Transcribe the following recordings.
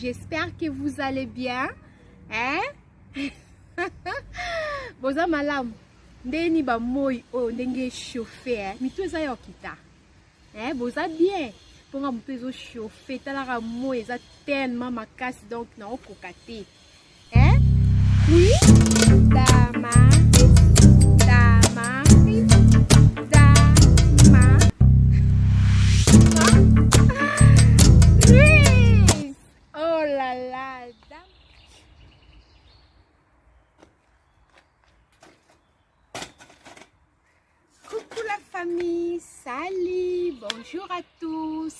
j'espère que vous allez bien hein? boza malamu ndeni bamoi oyo oh, ndenge chauffe eh? mitu eza ya okita eh boza bien mpo nga moto ezo chauffe talaka moi eza tellement makasi donc naokoka te eh oui dama dama dama Please. oh la la dama Coucou la famille, salut, bonjour à tous,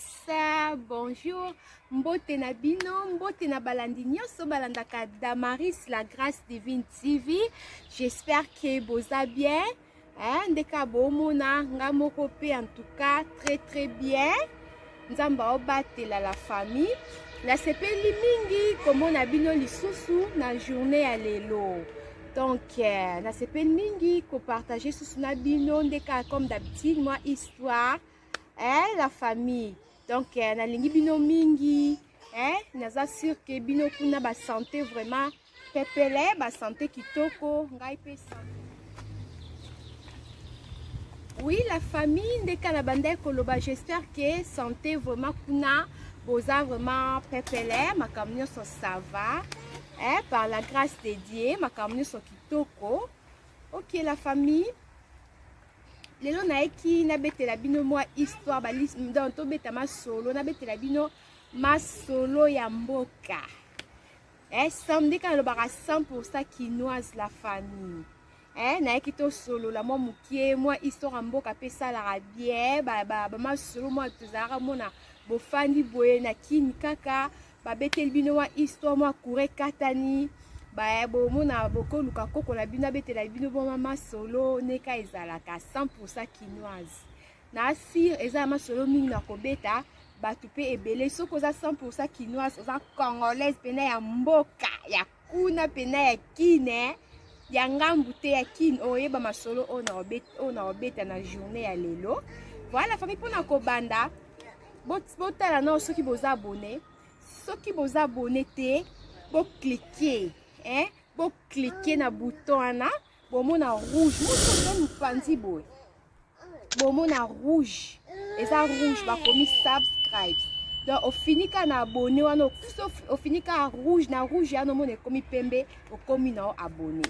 bonjour, mbote na bino, mbote na balandi nyoso balandaka Damaris la Grâce Divine TV, j'espère que boza bien, hein, ndeka bomona nga moko pe en tout cas très très bien. Nzambe aobatela la famille. Nasepeli mingi komona bino lisusu na journée ya lelo. Donc, euh, nasepeli mingi kopartage susu na bino nde kaka comme d'habitude mwa histoire eh, la famille. Donc, euh, nalingi bino mingi eh, naza sur ke bino kuna basante vraiment Pepele ba sante kitoko ngai pe sante. Oui la famille ndeka na bandai koloba j'espère que sante vraiment kuna boza vraiment pepele makambo nyonso ça va eh, par la grâce de Dieu makambo nyonso kitoko ok la famille lelo nayeki nabetela bino mwa histoire donc tobeta masolo nabetela bino masolo ya mboka eh, samedi kaka alobaka 100% kinoise la famille eh, nayaki tosolola mwa mokie mwa histoire ya mboka mpe esalaka bien bamasolo ba, ba, mwa tozalaka mona bofandi boye na kini kaka babeteli bino mwa histoire mwa coure katani baye bomona bokoluka koko na bino abetela bino boma masolo neka ezalaka 100 kinoise na assure eza ya masolo mingi na kobeta bato mpe ebele soki oza 100 kinoise oza congolaise mpena ya mboka ya kuna mpena ya kine ya ngambu te ya kine oyeba masolo oyo na obeta na journée ya lelo voilà fami mpona kobanda botala nao soki boza abone soki boza abone te boklike eh? boklike na bouton wana bomona rouge mosoto mopanzi boye bomona rouge eza rouge bakomi subscribes donc ofini kaka na abonne wana ofini kaka rouge na rouge yana omona ekomi pembe okomi na yo abonne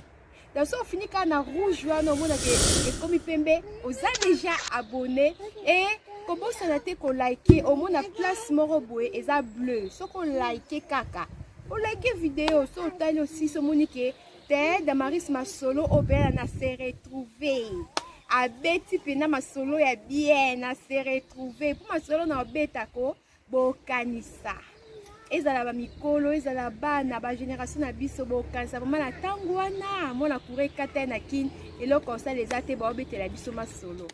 donc so ofini kaka na rouge wana omona ke ekomi pembe oza deja abonne e kobosana te kolike omona place moko boye eza bleu soki olike kaka olike video so otali osisi omoni ke te damaris masolo oyo mpenza na se retrouve abeti mpenza masolo ya bien na se retrouve mpo masolo na obetako bokanisa ezala bamikolo ezala bana bagénération na biso bokanisa vraimen na ntango wana mwana kura ekata na kin eloko osala eza te baobetela biso masolo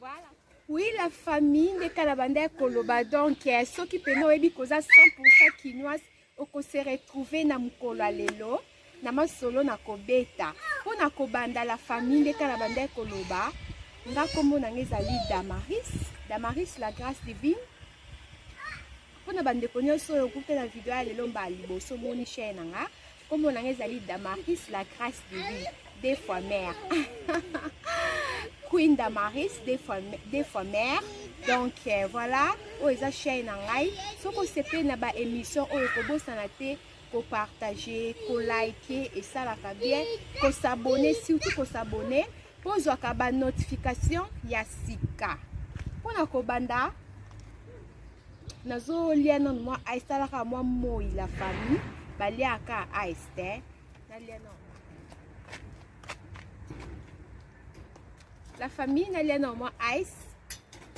voilà. oui la famille nde kala banda ya koloba donc eh, soki mpena oyebi koza 100 kinoise Oko se retrouver na mukolo ya lelo na masolo na kobeta mpo na kobanda la famille nde kala bandaki koloba nga nkombo na nga ezali damaris damaris la grâce divine mpo na bandeko nyonso oyo okuta na video ya lelo mbala liboso moni chaine na nga nkombo na nga ezali damaris la grâce divine deux fois mère queen damaris deux fois, deux fois mère donc euh, voilà oyo eza chaine na ngai soki osepeli na baémission oyo kobosana te kopartage kolike esalaka bien kosabone surtout kosabone mpo ozwaka banotification ya sika mpo na kobanda nazolia nano mwa ice talaka mwa moi la famille baliaka ice te la famille nalia na mwa ice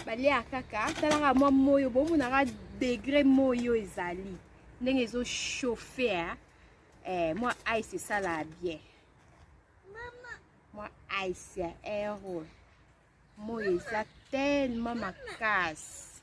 balia kaka talaka mwa moyo bomonaka degre moyo ezali ndenge ezochauffer eh, mwa ice esalaka bien mwa ice ya ero moyo eza tellement makasi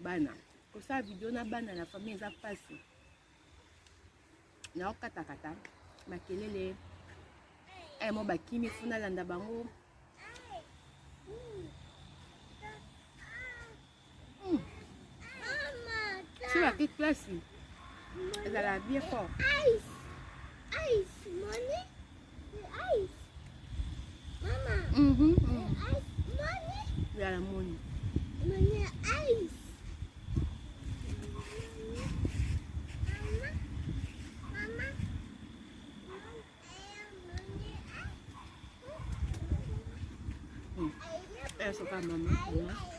bana kosala video na bana na famille eza mpasi naokatakata makelele eh, mo bakimi funa landa bango hmm. soki klasi ezala bien fort Mm -hmm. Eso, calma, calma.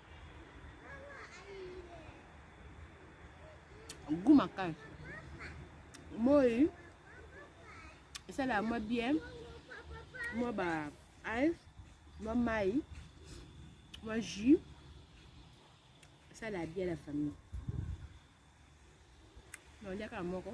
goût makasi moi esalaka mwa bien mwa ba ice mwa mai mwa jus esalaka bien la famille naliaka moko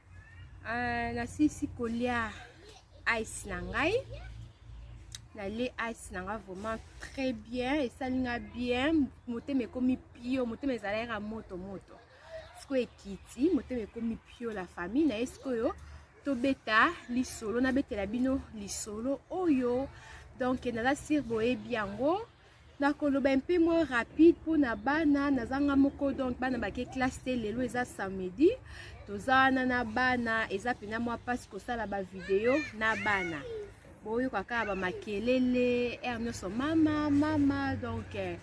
Uh, nasilisi kolia ice na ngai nalie ice na ngai vraiment très bien esali nga bien motema ekomi pio motema ezala yaka moto moto sikoyo ekiti motema ekomi pio la famille na ye sikoyo tobeta lisolo nabetela bino lisolo oyo donc naza sire boyebi yango nakoloba mpe mwa rapide mpona bana nazanga moko donc bana bake classe te lelo eza samedi toza wana na bana eza mpena mwa mpasi kosala bavideo na bana boyoka kaka bamakelele r nyonso mama mama donc eh,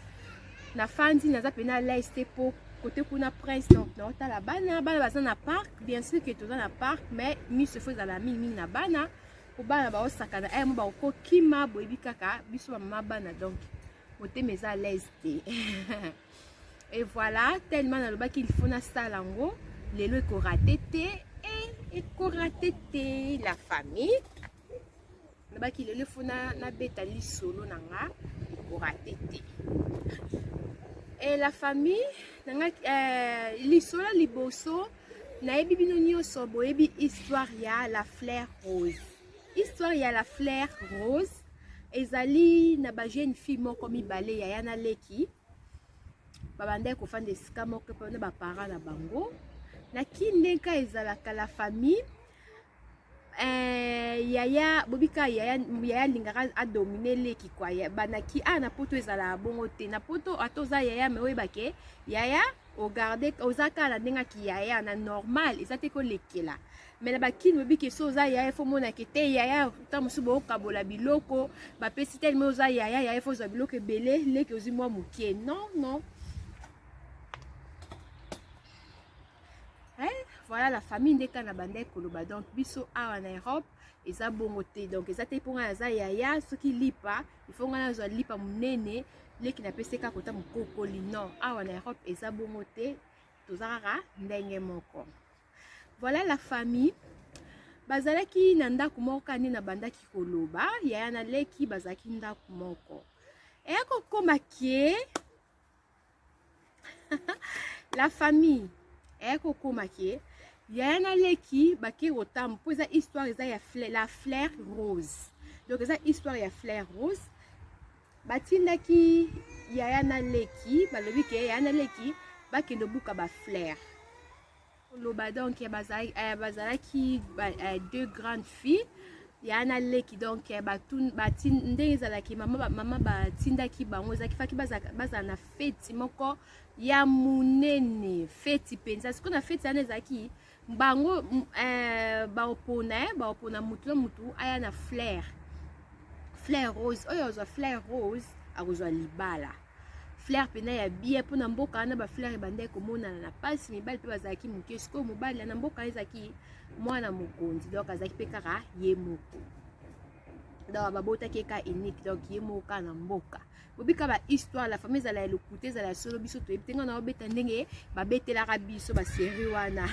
na fandi naza mpena lais te mpo kote kuna prince donc naotala bana bana baza na parc bien sûr ke toza na parc mais miso efo ezala mingimingi na bana kobana baosakana aya eh, mo bakokima boyebi kaka biso bamama bana donc motema eza alaise te e voilà tellement nalobaki ilfo nasala yango lelo ekorate te e ekorate te la famille nalobaki lelo efo nabeta lisolo na nga ekorate te e la famille nanga eh, lisolo liboso nayebi bino nyonso boyebi histoire ya la fleur rose histoire ya la fleur rose ezali na ba jeune fille moko mibale ya yana leki babandaki kofanda esika moko mpona baparent na bango na kindenka ezalaka la famille Eh, yaya bobika yaya yaya alingaka adomine leki kwa banaki a ah, na poto ezalaka bongo te na poto ata oza yaya me oyebake yaya ogarde oza kaka na ndenge aki yaya na normal eza te kolekela me na bakini bobiki so oza yaya fo omonake te yaya ntango mosusu bokokabola biloko bapesi teleme oza yaya yaya fo ozwa biloko ebele leki ozwi mwa moke non non Hein? voilà la famille ndeka na bandai koloba donc biso awa na europe eza bongo te donc eza te mpo ngai naza yaya soki lipa ifo ngai nazwa lipa monene leki napesi kaka kota mokokoli non awa na europe eza bongo te toza kaka ndenge moko voilà la famille bazalaki na ndako moko kaka nde nabandaki koloba yaya na leki bazalaki ndako moko eya kokoma ke la famille eye kokoma ke yaya na leki bake kotambo mpo eza histoire eza ya fle, la flaire rose donc eza histoire ya flaire rose batindaki yaya na leki balobi ke yaya na leki bakende obuka baflaire koloba donc eh, bazalaki eh, bazalaki eh, deux grandes filles ya na leki donc ndenge ezalaki mama batindaki bango ezalaki faki bazala na feti moko ya monene feti mpenza sikoyo na feti wana ezalaki bango baopona baopona motu na motu aya na flaire flaire rose oyo azwa flaire rose akozwa libala fleur mpena ya bia mpo na mboka wana bafleur ebandaki komonana na mpasi mibali mpe bazalaki moke sikoyo mobali na mboka ezalaki mwana mokonzi donc azalaki mpe kaka ye moko donc babotaki ye ka unique donc ye moko kaka na mboka bobika ba histoire la famille ezala ya lokuta ezala ya solo biso toyebi te ngai na obeta ndenge babetelaka biso baserie wana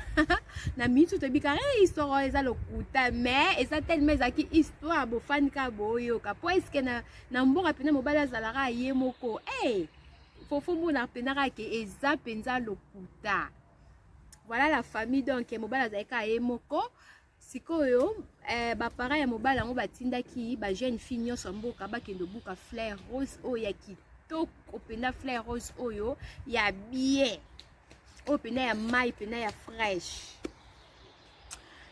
na minute oyo toyebika e eh, histoire oyo eza lokuta mais eza telema ezalaki histoire bofani kaka boyoka po eske na na mboka mpenza mobali azalaka ye moko hey! Eh! fofo mona mpenza kaka ke eza mpenza lokuta voilà la famille donc mobali azali kaka ye moko sikoyo eh, baparent ya mobali yango batindaki bajeune fille nyonso ya mboka bakende obuka flair rose oyo ya kitoko mpenza flair rose oyo ya bie oyo mpenza ya mai mpenza ya fraîche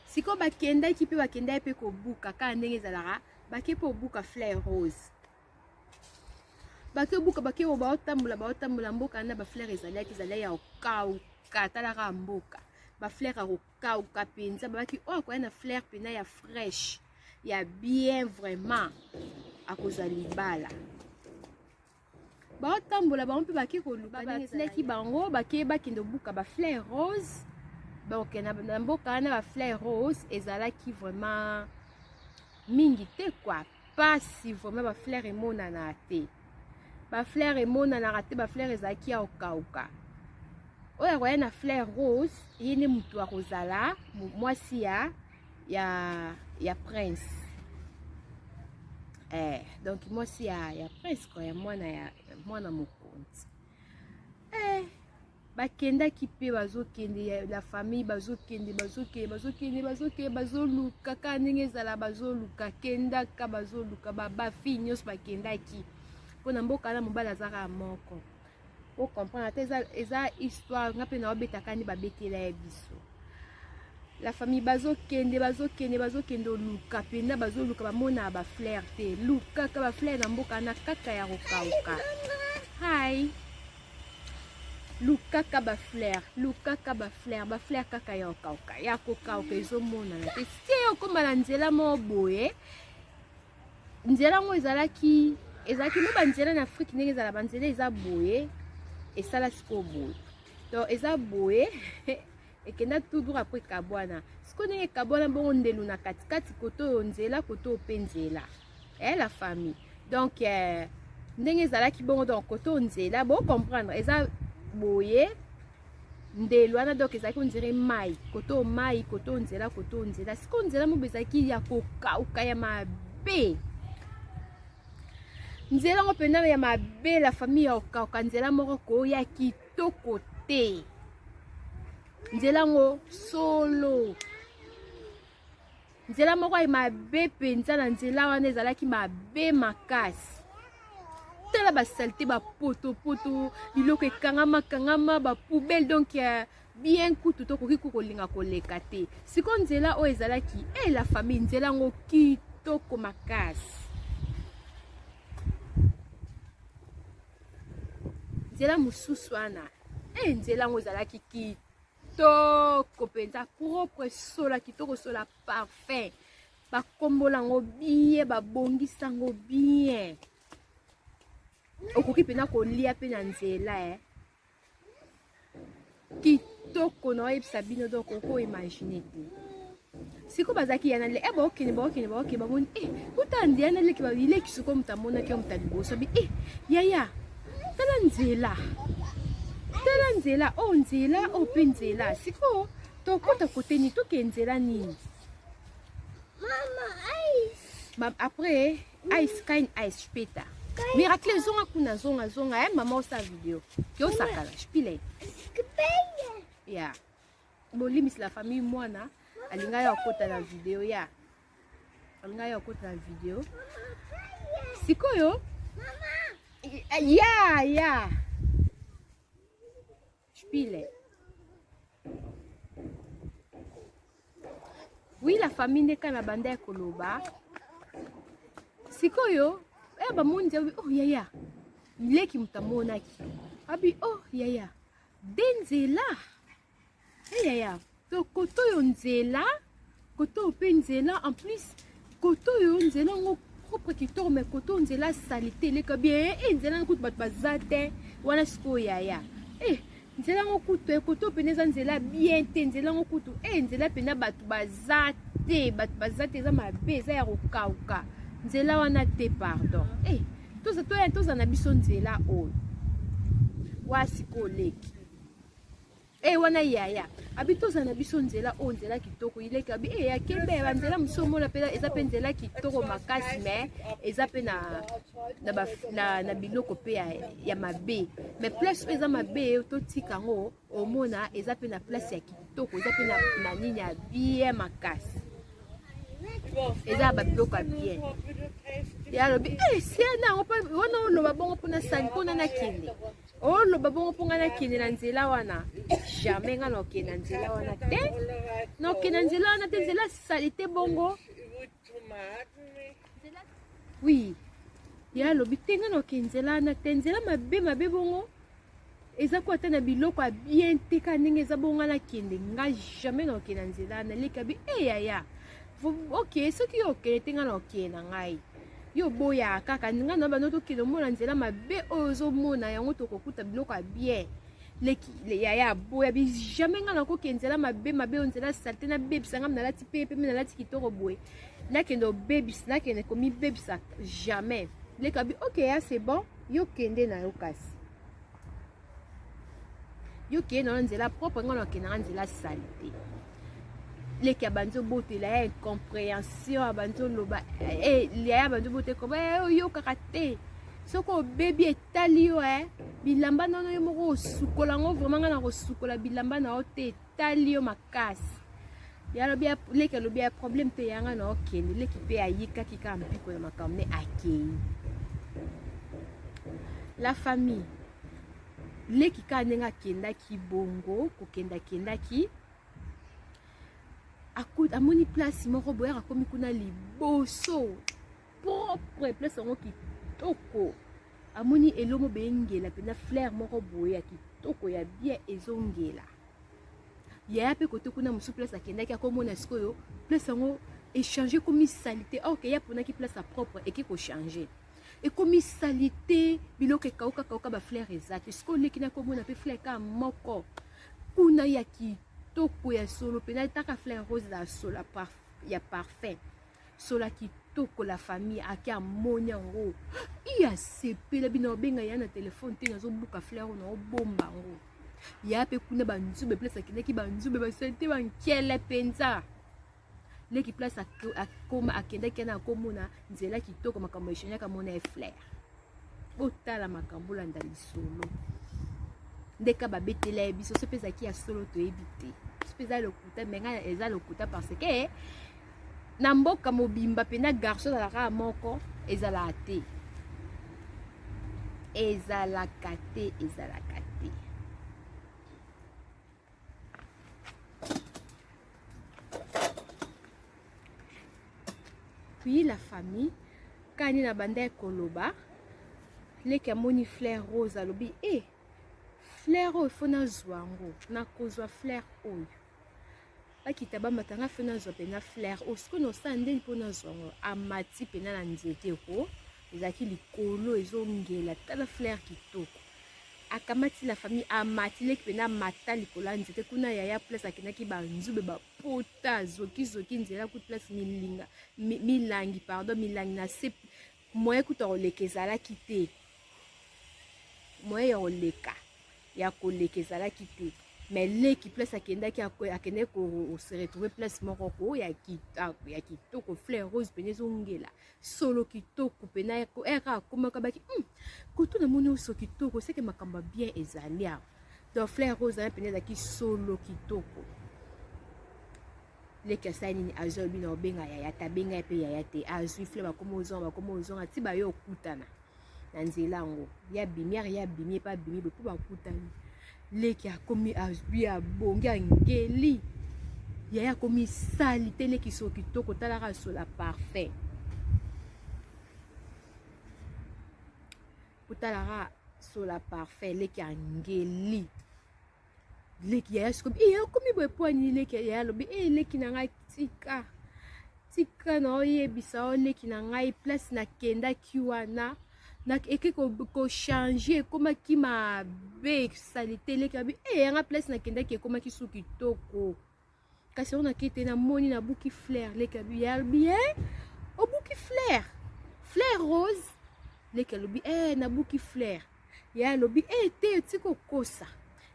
sikoyo bakendaki mpe bakendaki mpe kobuka kaka ndenge ezalaka bake mpe obuka fleur rose bake obuka bake oyo baotambola baotambola mboka na bafleur ezalaki ezali ya okauka talaka mboka bafleur ya kokauka mpenza babaki oyo oh, akoya na fleur mpena ya fraîche ya bien vraiment akozwa libala baotambola bango mpe bake koluka ndenge esilaki bango bakei bakende obuka bafleur rose donc na mboka wana bafleur rose ezalaki vraiment mingi te kua mpasi vraiment bafleur emonanaka te bafleur emonanaka te bafleur ezalaki ya kokauka oyo akoya na fleur rose ye nde motu akozala mwasi ya ya ya prince eh, donc mwasi ya, ya prince kwa ya mwana ya mwana mokonzi eh, bakendaki mpe bazokende la famille bazokende bazokende bazokende bazokende bazoluka kaka ndenge ezala bazoluka kendaka bazoluka babafi nyonso bakendaki mpo na mboka na mobali azaka moko o comprendre ata eza, eza histoire nga mpe naobetaka nde babetela ya biso la famille bazokende bazokende bazokende oluka mpenza bazoluka bamona bafleur te lukaka bafleur na mboka na kaka ya kokauka hai lukaka bafleur lukaka bafleur bafleur kaka ya kokauka ya kokauka ezomonana te sie okoma na nzela moko boye nzela yango ezalaki ezalaki mpe banzela na afrike ndenge ezala banzela eza boye esala sikoyo boye donc eza boye ekenda toujours apres kabwana sikoyo ndenge kabwana bongo ndelu na katikati koto oyo nzela koto oyo mpe nzela e la famille donc eh, ndenge ezalaki bongo donc koto nzela bocomprendre eza boye ndelo wana donc ezalaki ondire mai koto mai koto nzela koto nzela sikoyo nzela mobe ezalaki ya kokauka ya mabe nzela yango mpenza ya mabe la famille ya kokauka nzela moko koya kitoko te nzela yango solo nzela moko ya mabe mpenza na nzela wana ezalaki mabe makasi tala basalite bapotopoto biloko ekangama kangama bapoubele donc uh, bien kutu tokoki kokolinga koleka te sikoyo nzela oyo ezalaki e eh, la famille nzela yango kitoko makasi nzela mosusu wana e nzela yango ezalaki kitoko kitoko mpenza propre sola kitoko sola parfum bakombola yango bien babongisa yango bien okoki mpenza kolia mpe na nzela eh. kitoko na oyebisa bino donc okoimagine te siko bazalaki yana le eh, baokende baokende baokende bamoni e eh, kuta nde yana leki babileki siko moto amonaki yo moto ya liboso abi e yaya tala nzela tala nzela oyo oh, nzela oyo oh, mpe nzela sikoyo tokota kote nini toke nzela nini après ice kind ice peta miracle zonga kuna zonga zonga e mama osa video yosakala spile ya yeah. bolimbisi la famille mwana alinga ya kota na video ya alinga ya kota na video sikoyo ya ya spile oui la famille nde kana banda ya koloba sikoyo eh, bamoni nzambe oh yaya leki moto amonaki abi oh yaya de nzela eyaya eh, to koto oyo nzela koto oyo mpe nzela en plus koto oyo nzela yango propre kitoko mai koto oyo nzela salite eleka bien e nzela yango kutu bato baza te wana sikoyo yaya e nzela yango kutu ekoto eh, mpenza eza nzela bien te nzela yango kutu e nzela mpenza bato baza te bato baza te eza mabe eza ya kokauka nzela wana te pardon e toza toya toza na biso nzela oyo wasi koleki e eh, wana yaya abi toza na biso nzela oyo nzela kitoko ileki abi e ya kembe banzela mosusu omona mpe eza mpe nzela kitoko makasi me eza mpe na, na, na, na biloko mpe ya, ya mabe me place oyo eza mabe totika yango omona eza mpe na place ya kitoko eza mpe na nini ya bien makasi eza ya babiloko ya bien ye alobi eh, siana yango wana oloba bongo mpo nasani mpo na nakende oloba bongo mpo ngai nakende na nzela wana jamais ngai nakende na nzela wana te nakende na nzela wana te nzela salite bongo oui ye alobi te nga naoke nzela wana te nzela mabe mabe bongo eza ko ata na biloko ya bien te ka ndenge eza bongo nga nakende nga jamais naoke na nzela wana leka bi e eh, yaya ok soki yo okende te nga naokende na ngai yo oboyaka kaka nga na bando tokende omona nzela mabe oyo ozomona yango tokokuta biloko ya bien leki le yaya aboya bi jamais nga nakoki nzela mabe mabe oyo nzela salte nabebisa nga nalati mpe pembe nalati kitoko boye nakende obebisa nakende komibebisa jamais leka bi ok ya c'est bon yo kende na yo kasi yo kende na yo nzela propre nga nakende nga nzela salte leki abandi obotela ya incomprehension abandi oloba eh, eh, yaya abandi obotela oyokaka te soki obebi tali yo eh bilamba nono yo moko osukola yango vraiment ngai nakosukola bilamba na yo te etali yo makasi yalobi leki alobi ya problème te ya ngai na okende leki mpe ayikaki kaka mpiko ya makambo ne akei la famille leki kaka ndenge akendaki bongo kokenda akendaki amoni place moko boyaka akomi kuna liboso propre place yango kitoko amoni elomo bengela mpenza flaire moko boye ya kitoko ya bien ezongela yaya mpe kote kuna mosusu place akendaki akomona sikoyo place yango echange ekomi salite or ke ye aponaki place ya propre eke kochange ekomi salite biloko ekauka kauka baflaire eza te sikoyo oleki nakomona mpe flaire kaka moko kuna ya kitoko ya solo mpenza etaka flaire rose ya solo ya parfum sola kitoko la famille ake amoni yango i asepela bino obenga ya na telefone te nazobuka fleur na obomba yango ya mpe kuna banzube place akendaki banzube basalite bankele mpenza leki place akoma akendaki yana akomona nzela kitoko makambo eshanyaka mona eflere botala makambo olanda lisolo ndeka babetela ye biso soki ezalaki ya solo toyebi te soki eza lokuta me ngai eza lokuta parce que na mboka mobimba mpena garçon ezalaka moko ezalaka te ezalaka te ezalaka te puis la famille kani na bandaki koloba leki amoni flaire rose alobi e eh, flaire oyo fo nazwa yango nakozwa flaire oyo bakita bamata nga fe nazwa mpena flaire oyo oh, sikoyo naosala ndeni mpo nazwa yango amati mpena na nzete ko ezalaki likolo ezongela tala flaire kitoko akamati la famille amati leki mpena amata likolo ya nzete kuna yaya place akendaki banzube bapota zokizoki nzela kutu place milinga milangi pardon milangi na se Moyen kutu ya koleka ezalaki te, moyen ya koleka ya koleka ezalaki te mais leki place akendaki akendaki kose retrouve place moko ko ya kitoko fleur rose mpena ezongela solo kitoko mpena eka akomaka baki hmm, kutu namoni oso kitoko seke makambo ya bien ezali awa donc fleur rose wana mpena ezalaki solo kitoko leki asali nini azwi alobi na obenga yaya te abenga ye mpe yaya te azwi fle bakoma ozonga bakoma ozonga ti baye okutana na nzela yango ye abimi ari ye abimi ye mpe abimi boye mpo bakutani leki akomi azwi abongi angeli yaya akomi sali te leki so kitoko talaka sola parfum otalaka sola parfum leki angeli leki yaya sikoyo e eh, okomi boye mpo anini leki yaya alobi e eh, leki na ngai tika tika na oyebisa o leki na ngai place nakendaki wana eke kochange ekomaki mabe salite leki abi e eh, yanga place nakendaki ekomaki su kitoko kasi ona kete na moni na buki flair leke alobi ya bien obuki flair flair rose leke alobi eh na buki flair ya alobi eh te ti kokosa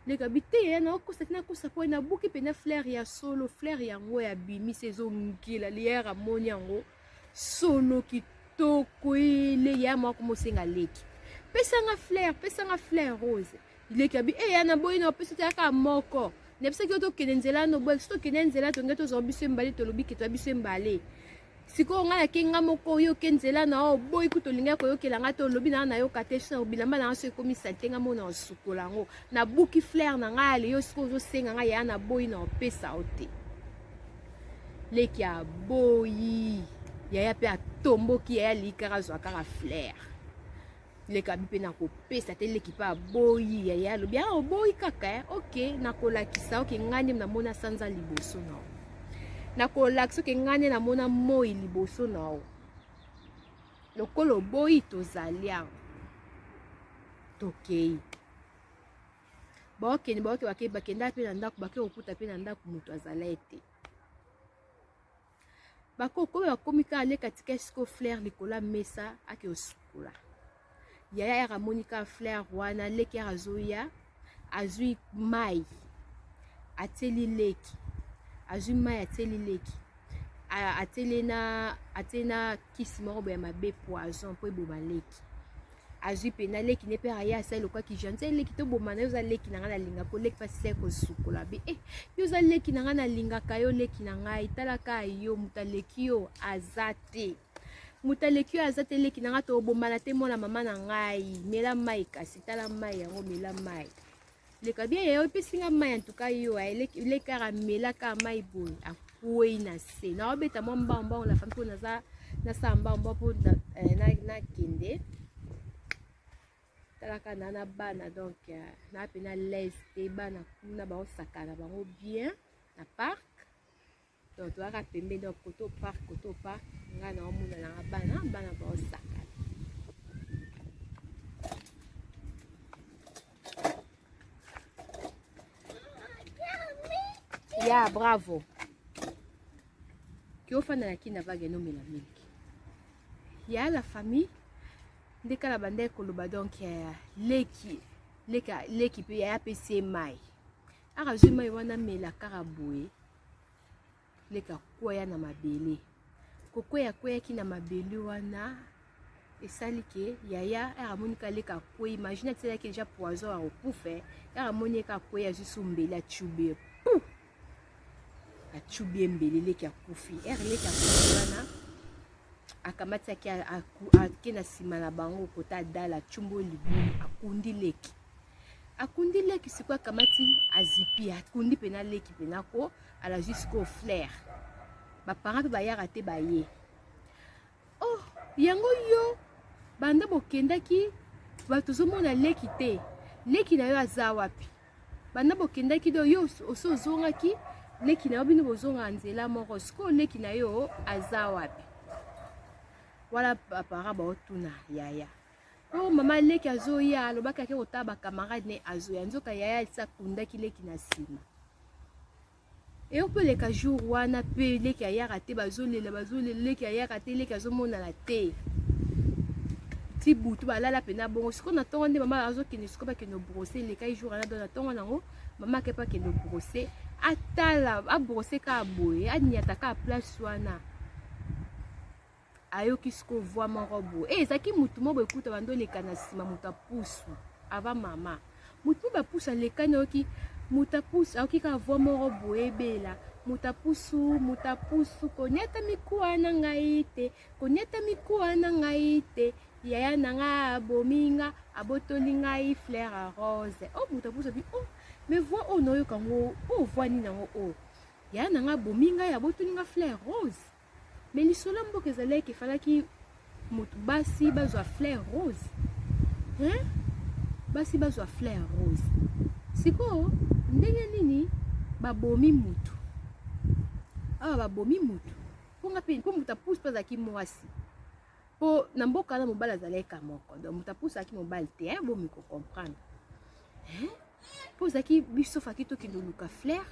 leke alobi te ya na okosa ti nakosa mpo na buki mpenza flair ya solo flair yango ya bimisi ezongila lier amoni yango solo kitoko ele ya mwa komosenga leki pesanga flair pesanga flair rose leki ya bi e ya naboyi na opesi teyaka moko nayebisaki yo tokende nzela no boye soki tokende nzela tonge tozwa biso embale tolobi ke twa biso embale sikoyo ngai nake ngai moko oyoke nzela na yo oboyi kutu olingai koyokela ngai te olobi na ngai nayoka te so bilamba na ngai so ekomi salite ngai mona osukola yango nabuki flaire na ngai ya leyo sikoyo ozosenga ngai yaya naboyi na opesa yo te leki aboyi yaya mpe atomboki yaya alii kaka azwa kaka flaire leka bi mpe nakopesa te leki mpe aboyi yaya alobi a ah, oboyi kaka eh? ok nakolakisa oke ngai nde namona sanza liboso na yo nakolakisa oke ngai nde namona moi liboso na yo lokola oboyi tozali awa tokei baokende baoke bakei bakenda mpe na ndako bakei kokuta mpe na ndako moto azala ete bakoko oyo bakomi kaka leka tika esiko flaire likolo ya mesa ake osukola yaya yaka amoni kaka flaire wana leki yaka azoya azwi mai atieli leki azwi mai atieli leki atieli na atieli na kisi moko boye ya mabe poison mpo eboma leki azwi mpena leki ne mpe aye asali lokola kijan nse leki toboma na yo oza leki na ngai nalinga ko leki mpasi sai kosukola be e yo oza leki na ngai nalingaka yo leki na ngai talaka yo moto aleki yo aza te moto aleki oyo aza te leki na ngai tobombana te mwana mama na ngai mela mai kasi tala mai yango mela mai leka bien yayo epesi nga mai antuka yo elekaka melaka mai boye akwei na se naobeta mwa mbango mbango na fami mpo naza nasala mbango mbango mpo eh, nakende talaka na na bana donc eh, na mpe na laise te bana kuna baosakana bango bien na parc donc toyaka pembe donc koto park koto park ngai naomona nanga bana bana baosaka ya bravo kiofanda na kina vage nomela mingi ya la famille nde kala bandaki koloba donc eh, leki leki mpe yaya apesi ye mai akazwi mai wana mela kaka boye leka kwea na mabele kokwea kweyaki na mabele wana esali ke yaya ere amoni ka leka akwei imagine atisalaki deja poison ya kokufa ere amoni eka akwei azwi so mbeli acubi ye pu acubi ye mbeli leki akufi ere leki akufi wana akamataki ake na nsima na bango kota adala acumbi oyo libulu akundi leki akundi leki sikoyo akamati azipi akundi mpena leki mpena ko ala jusqu'au flair baparent mpe bayaka te baye oh yango yo banda bokendaki bato ozomona leki te leki na yo aza wapi banda bokendaki do yo osi ozongaki leki na yo bino bozonga nzela moko sikoyo leki na yo aza wapi wana baparent baotuna yaya Oh mama leki azoya alobaki ake kotala ba camarade ne azoya nzoka yaya alisa akundaki leki na nsima eyo mpe leka jour wana mpe leki ayaka te bazolela bazolela leki ayaka te leki azomonana te ti butu balala mpe na bongo sikoyo na ntongo nde mama azokende sikoyo bakende obrose elekai jour wana don na ntongo nango mama akepa akende obrose atala abrose kaka boye aniata kaka place wana ayoki siko voix moko boye e eh, ezalaki motu moko boye kuta bando oleka na nsima moto apusu ava mama motu moko bapusu alekani ayoki moto apusu ayoki kaka voix moko boye ebela moto apusu moto apusu koniata mikuwa na ngai te koniata mikuwa na ngai te yaya na ngai abomi nga abotoli ngai flaire a rose o oh, moto apusu abi o oh, me voix oyo nayoka yango o oh, voix nini yango oyo yaya na ngai abomi ngai abotoli nga flaire rose Mais lisolo ya mboka ezali eke falaki moto basi bazwa fleur rose hein? basi bazwa fleur rose sikoyo ndenge nini babomi motu awa babomi motu mpo nga mpe mpo moto apusi mpe azalaki mwasi mpo na mboka wana mobali azalaki ka moko donc moto apusi azalaki mobali te eh, bomi kocomprendre eh? mpo ezalaki biso faki tokende oluka flaire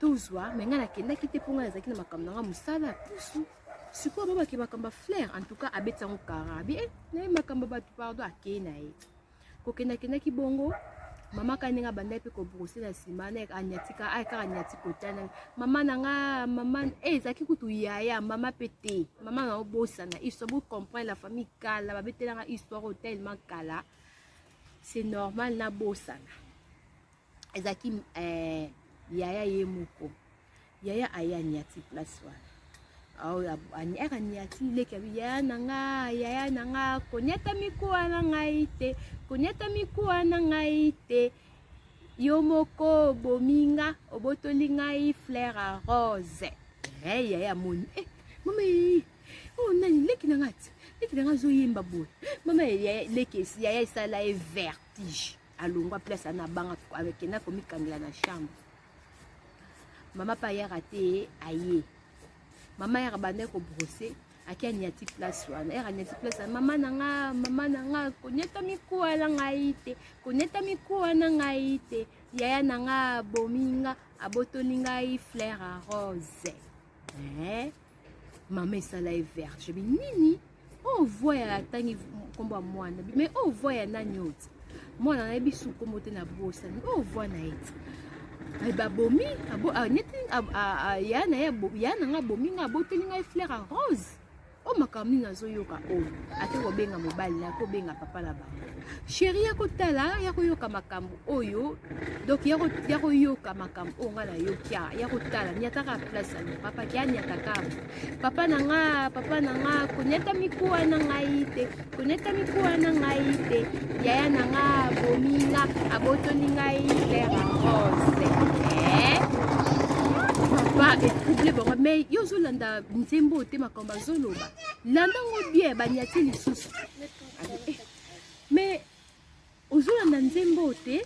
tozwa me ngai nakendaki te mpo ngai nazalaki na makambo na ngai mosala ya pusu sikoyo babaki makambo ya flaire en tout cas abeti yango karabi e eh, naye makambo ya bato pardon akei na ye kokendakendaki bongo mama kani ndenge abandaki mpe kobrose na nsima anyatika ay kaka anyati kotana mama na nga mama e eh, ezalaki kutu yaya mama mpe te mama na obosana histoire bocomprendre la famille kala babetelanga histoire oyo tellement kala c'est normal na bosana ezalaki eh, yaya ye moko yaya aya niati place wana aka niati leki abi yaya na nga yaya na nga koniata mikuwa na ngai te koniata mikuwa na ngai te yo moko obomi nga obotoli ngai fleur a rose hey, eh, yaya amoni eh, mama Oh nani leki na nga ti. Leki na nga azo yemba boye. Mama ya leki ya ya sala e vertige. Alongwa place ana banga avec na komi kangela na chambre. Mama pa yara te aye. Mama yara bande ko brosser ake anyati place wana ere anyati place wana mama na nga mama na nga konyata mikuwa na ngai te konyata mikuwa na ngai te yaya na nga abomi nga abotoli ngai flaire rose eh? mama esala ye verte jebi nini oyo oh, voi ya atangi nkombo ya mwana mais oyo oh, voi ya nani oyo ti mwana nayebi su nkombo te na bosani oyo oh, voi na ye ti eh, babomi ah, neti ah, ah, ya na ye ya na ngai abomi ngai aboteli ngai fleur ya rose o makambo nini nazoyoka oyo ate kobenga mobali na kobenga papa na bango sheri ya kotala ya koyoka makambo oyo donc ya koyoka makambo oyo ngai nayoki awa ya kotala niataka place yango papa ke aniataka papa na nga papa na nga koniata mikuwa na ngai te koniata mikuwa na ngai te yaya na nga abomi nga abotoli ngai lera rose eh? papa etrouble bango mai yo ozolanda nzembo te makambo azoloba landa ngo bien baniati lisusu mais ozolanda nzembo te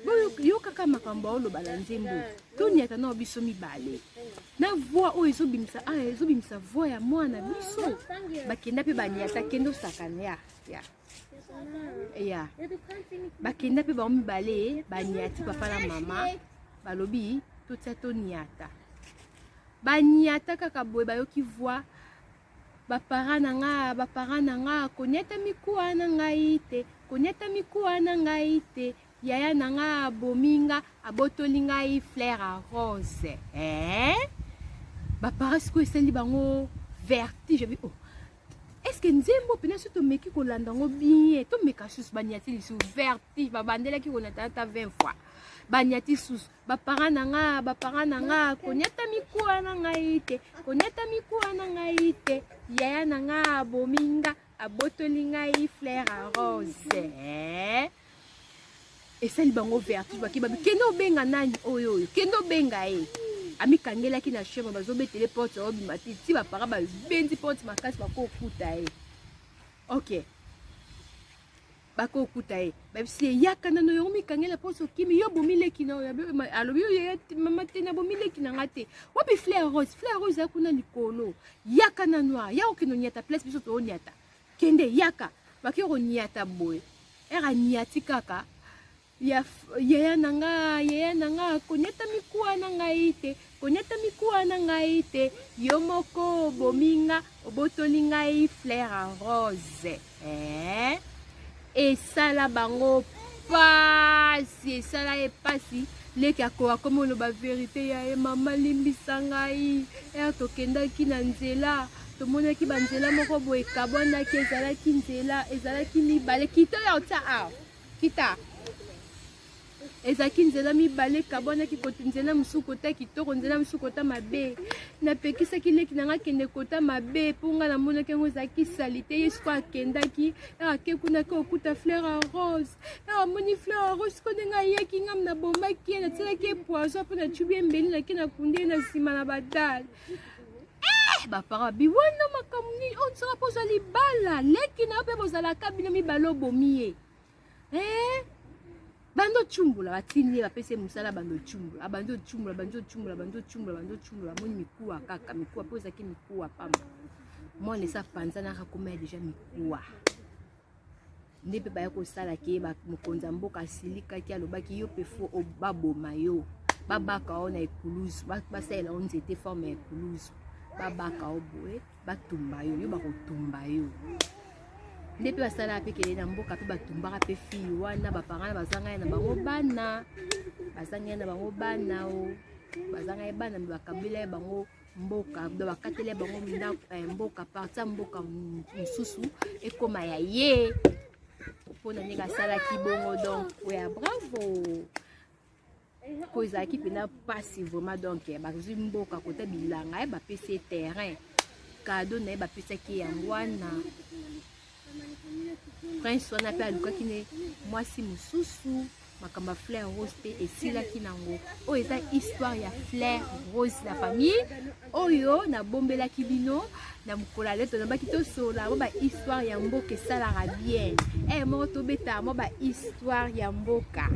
boyokaka makambo aoloba na nzembo toniata nao biso mibale na voi oyo ezobimisa a ah, ezobimisa voi ya mwana biso bakenda mpe baniata kende osakana ya ya ya bakenda mpe bango mibale baniati papa na mama balobi totia toniata baniata kaka boye bayoki voi bapara na nga bapara na nga koniata mikuwa na ngai te koniata mikuwa na ngai te yaya na nga abomi nga abotoli ngai flair a rose eh? bapara sikoyo esali bango vertige bi oh. eske nzembo mpena so tomeki kolanda yango bien tomeka susu baniati lisusu vertige babandelaki konata ata 20 fois baniati susu bapara na nga bapara na nga koniata mikuwa na ngai te koniata mikuwa na ngai te yaya na nga abomi nga abotoli ngai flair a rose eh? esali bango vertige bake babi kende obenga nani oyo oyo kende obenga ye amikangelaki na chema bazobetele porte obima te ti bapara babendi porte makasi bakokuta ye okay bako okuta ye babisi ye yaka nano yango mikangela mposo okimi yo bomileki na oyo alobi yo yaya mama te na bomileki na nga te wapi flair rose flair rose ya kuna likolo yaka na noir ya okende onyata place biso toonyata kende yaka bake konyata boye ere anyati kaka ya yaya na nga yaya na nga koniata mikuwa na ngai te koniata mikuwa na ngai te yo moko obomi nga obotoli ngai flair en rose eh? esala bango pasi esala ye pasi leki akoka komi oloba verite ya ye mama limbisa ngai ere tokendaki na nzela tomonaki banzela moko boye ekabwanaki ezalaki nzela ezalaki mibale kito ya otya awa Kita. ezalaki nzela mibale ekabwanaki kota nzela mosusu kota kitoko nzela mosusu kota mabe napekisaki leki na ngai akende kota mabe mpo ngai namonaki yango ezalaki salite ye siko akendaki ake kuna ke okuta fleur a rose amoni fleur a rose siko ndenge ayeki ngam nabombaki ye natyelaki ye poison mpo nacubi ye mbeli nake nakundi ye na nsima na badale Eh, bapara biwana makambo nini oyo oh, nsaka mpo ozwa libala leki na yo mpe bozalaka bino mibale obomi ye eh, bandi ocumbola batindi ye bapesi ye mosala bandi ocumbola abandi ocumbola bandi ocumbola bandi ocumbola bandi ocumbola amoni mikuwa kaka mikuwa mpo ezalaki mikuwa pamba mwana esa panzanaka koma ya deja mikuwa nde mpe baya kosala ke mokonzi ya mboka asilikaki alobaki yo mpe fo baboma yo babaka yo na ekulusu basalela yo nzete forme ya ekulusu babaka yo boye batumba yo yo bakotumba yo nde mpe basalaka mpe kele na mboka mpe batumbaka mpe fille wana baparana bazanga ye na bango bana bazanga ye na bango bana o bazanga ye bana mpe bakabela ye bango mboka do bakateli ya bango ndako eh, mboka parti ya mboka mosusu ekoma ya ye mpo na ndenge asalaki bongo donc oya bravo mpo ezalaki mpenza mpasi vraiment donc eh, bazwi mboka kota bilanga ye eh, bapesi ye terrain kado na ye bapesaki yango wana prince wana mpe alukaki ne mwasi mosusu makambo ya flair rose mpe esilaki nango oyo eza histoire ya flair rose la famille oyo nabombelaki bino na mokolo ya leto nabaki tosolola mwa bahistoire ya mboka esalaka bien e moko tobeta mwa bahistoire ya mboka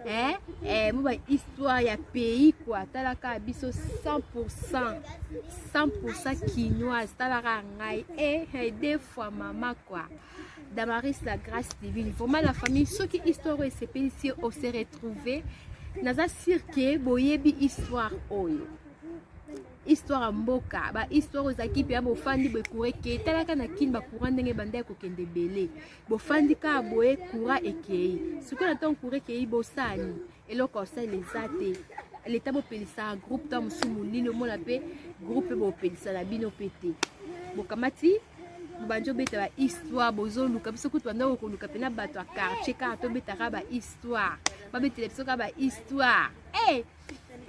e e mwa bahistoire ya pays kua talaka biso 100 100 kinoise talaka ngai eh, eh, deux fois mama quoi damaris la grâce divine vraiment la famille soki histoire oyo esepelisi yo ose retrouve naza sur ke boyebi histoire oyo histoire ya mboka bahistoire oyo ezalaki mpe ya bofandi boye coura ekei talaka na kini bacourant ndenge ebanda ya kokende ebele bofandi kaka boye coura ekei sikoyo na ntango coura ekei bosani eloko asali eza te leta bopelisa groupe to mosusu molili omona mpe groupe bopelisa na bino mpe te bokamati bobandi obeta ba histoire bozoluka biso kutu bandako koluka mpe na bato ya quartier kaka tobetaka ba histoire babetela biso kaka ba histoire hey! Eh!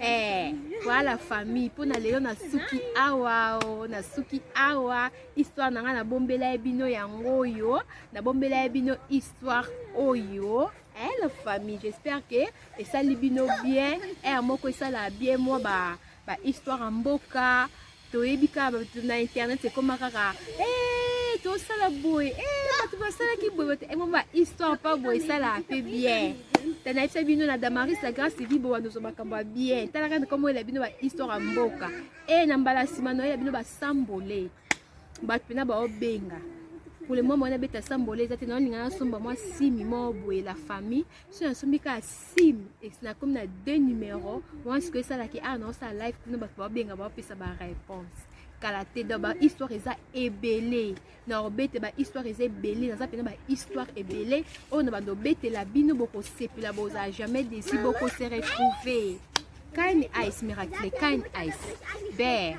eh, voilà famille mpo na lelo nasuki awa o oh, nasuki awa histoire na ngai nabombela ye bino yango oyo nabombela ye bino histoire oyo Hello famille, j'espère que esali bino bien. Heure moko esala bien moi ba ba histoire en boka. Toyebi ka na internet ekoma kaka eh tosala boye eh bato basalaki boye bato emo ba histoire pa boye esala mpe bien tana yebisa bino na damaris la grâce evi bowa nozo makambo ya bien talaka nkombo ela bino ba histoire ya mboka e na mbala nsima noyela bino basambole bato mpena baobenga pole mwa mwana beta sambole eza te na olinga nasomba mwa simi moko boye la famille so nasombi kaka simi nakomi na deux numero wana sikoyo esalaki awa naosala live kuna bato baobenga baopesa bareponse kala te donc bahistoire eza ebele na obete bahistoire eza ebele naza mpena bahistoire ebele oyo na bando obetela bino bokosepela bozala jamais desi bokose retrouve kind ice miracle kind ice ber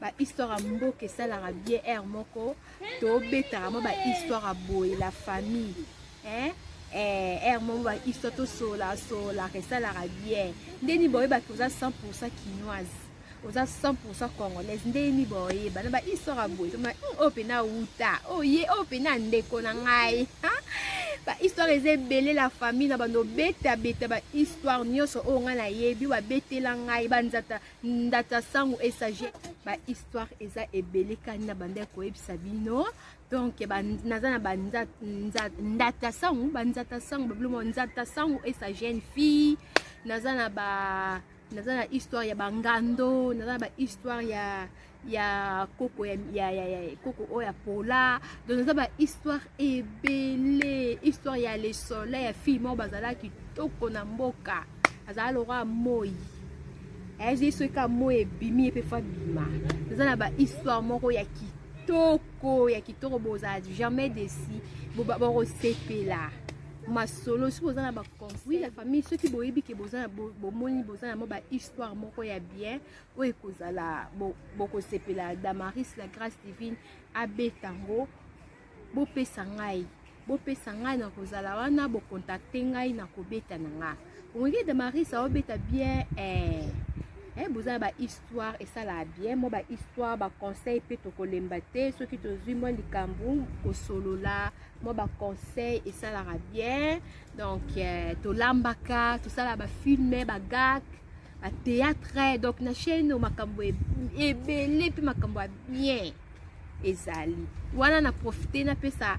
ba histoire ya mboka esalaka bien aire moko tobetaka mwa ba histoire ya boye la famille eh? Eh, aire moko ba histoire tosola solaka esalaka bien ndeni boyebaki oza 100 pourcent kinoise oza 100 pourcent congolaise ndeni boyeba na ba histoire ya boye toma hmm, oyo mpena wuta oye oh, oyo oh, mpena ndeko na ngai ba histoire eza ebele la famille na bando betabeta ba histoire nyonso oyo ngai nayebi babetela ngai banzata ndata sango esage ba histoire eza ebele kani na banda koyebisa bino donc naza na bandata sango banzata sango babiloko nzata sango esa jeune fille naza na ba naza na histoire ya bangando naza na ba histoire ya ya koko ya, ya, ya, ya koko oyo ya pola donc eza ba histoire ebele histoire ya le soleil ya fille moko bazala kitoko na mboka azala lokola moi ayezi eh, soki ka moi ebimi ye mpe fa bima eza na ba histoire moko ya kitoko kitoko ya kitoko boza jamais desi bakosepela masolo soki boza na baconseil ya famille soki boyebi ke bomoni boza na mwa bahistoire moko ya bien oyo ekozala bokosepela bo damaris la grâce divine abeta yango bopesa ngai bopesa ngai na kozala wana bokontakte ngai na kobeta na nga omoki damaris aobeta bien eh. Eh, boza na bahistoire esalaka bien mwa bahistoire baconseil mpe tokolemba te soki tozwi mwa likambo kosolola mwa baconseil esalaka bien donc eh, tolambaka tosala bafilme bagak a théâtre donc na chaîne makambo ebele mpe makambo ya bien ezali wana na profite napesa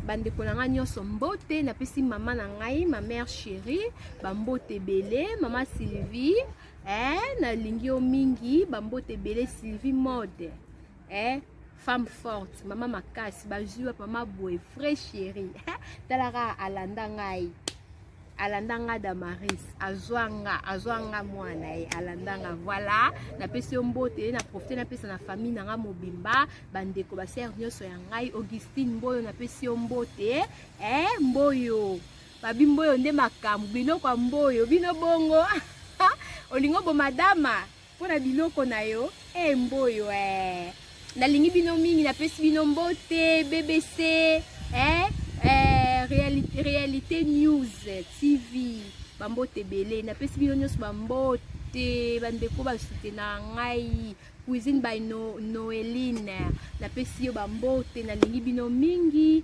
bandeko na ngai nyonso mbote napesi mama na ngai ma mère chérie bambote ebele mama sylvie eh, nalingi yo mingi bambote ebele sylvie mode eh, femme forte mama makasi bazwi wapi mama boye vrai chéri talaka alanda ngai alanda nga damaris azwa nga azwa nga mwana ye alanda nga voilà napesi yo mbote naprofite napesa na famille na nga mobimba bandeko basere nyonso ya ngai augustine mboyo napesi yo mbote eh, mboyo babi mboyo nde makambo biloko ya mboyo bino bongo olingo bomadama Mpo na biloko na yo e mboyo eh. Nalingi bino mingi, napesi bino mbote BBC eh, eh, realite, realite News TV bambote ebele, napesi bino nyonso bambote bandeko basute na ngai cuisine by no, Noeline, napesi yo bambote, nalingi bino mingi.